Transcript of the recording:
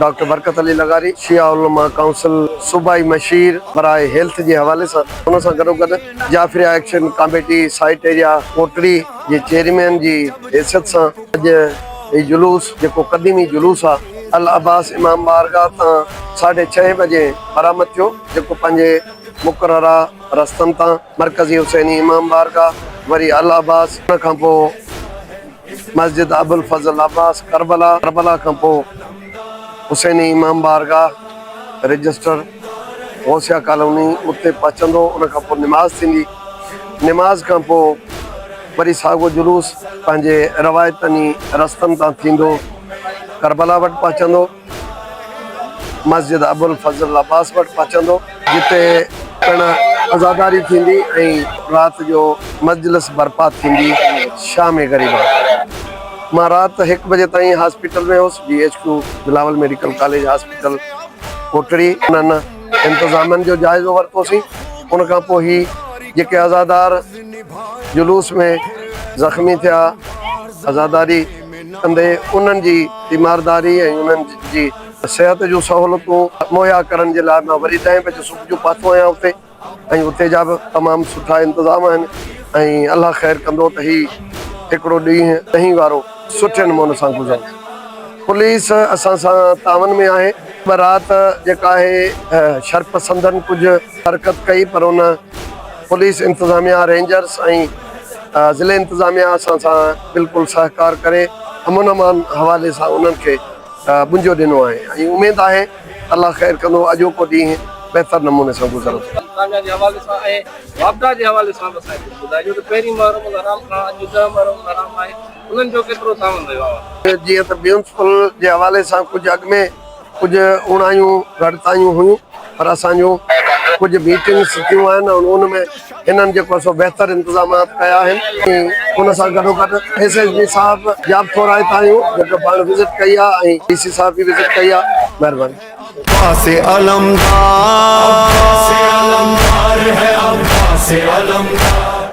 Doctor Barkat Ali لغاري شيعه علماء ڪائونسل صوبائي مشير برائي هيلٿ جي حوالي سان ان سان گڏوگڏ Jafaria action committee site area Kotri جي چيئرمين جي حيثيت سان اڄ هي جلوس جيڪو قديمي جلوس آ العباس امام بارگاهه تان ساڍي ڇهين بجي برآمد ٿيو جيڪو پنهنجي مقرره رستن تان مرڪزي حسيني امام بارگاهه وري العباس ان کانپو مسجد ابوالفضل عباس ڪربلا، ڪربلا کان پوء حسيني امام بارگاهه، رجسٽر، غوثيه ڪالوني اتي پهچندو، ان کان پوء نماز ٿيندي، نماز کان پوء وري ساڳو جلوس پنهنجي روايتني رستن تان ٿيندو ڪربلا وٽ پهچندو. مسجد ابوالفضل عباس وٽ پهچندو، جتي پڻ عزاداري ٿيندي ۽ رات جو مجلس برپا ٿيندي، شام غريبا مان رات هڪ بجي تائين هاسپيٽل ۾ هوس، B H Q Bilawal medical college hospital Kotri انهن انتظامن جو جائزو ورتوسين، ان کان پوء هي جيڪي عزادار جلوس ۾ زخمي ٿيا، عزاداري. ڪندي انهن جي تيمارداري ۽ انهن جي صحت جون سهولتون مهيا ڪرڻ جي لاء مان وري ڏهين بجي صبح جو پهتو آهيان اتي ۽ اتي جا به تمام سٺا انتظام آهن ۽ الله خير ڪندو ته هي هڪڙو ڏينهن ڏهين وارو سٺي نموني سان گذري پوليس اسان سان تعاون ۾ آهي ٻه رات جيڪا آهي شرپسندن ڪجهه حرڪت ڪئي پر ان پوليس انتظاميا رينجرس ۽ ته ضلعي انتظاميا اسان سان بلڪل سهڪار ڪري امن امان حوالي سان انهن کي ٻنجو ڏنو آهي ۽ اميد آهي ته الله خير ڪندو اڄوڪو ڏينهن بهتر نموني سان گذرندو. تانجا جي حوالي سان ۽ واپڊا جي حوالي سان به اسان کي ڪجهه ٻڌائجو ته پهرين محرم الحرام کان اڄ ڏهه محرم الحرام آهي انهن جو ڪيترو تعاون رهيو آهي. جيئن ته ميونسپل جي حوالي سان ڪجهه اڳ ۾ ڪجهه اوڻايون گهٽتايون هيون پر اسان جون ڪجهه ميٽنگس ٿيون آهن ۽ ان ۾ هنن جيڪو آهي سو بهتر انتظامات ڪيا آهن ۽ ان سان گڏوگڏ ايس ايس بي صاحب جا به ٿورا هت آهيون جيڪو پاڻ وزٽ ڪئي آهي ۽ ڊي سي صاحب به وزٽ ڪئي آهي مهرباني. عباس علمدار عباس علمدار هي عباس علمدار.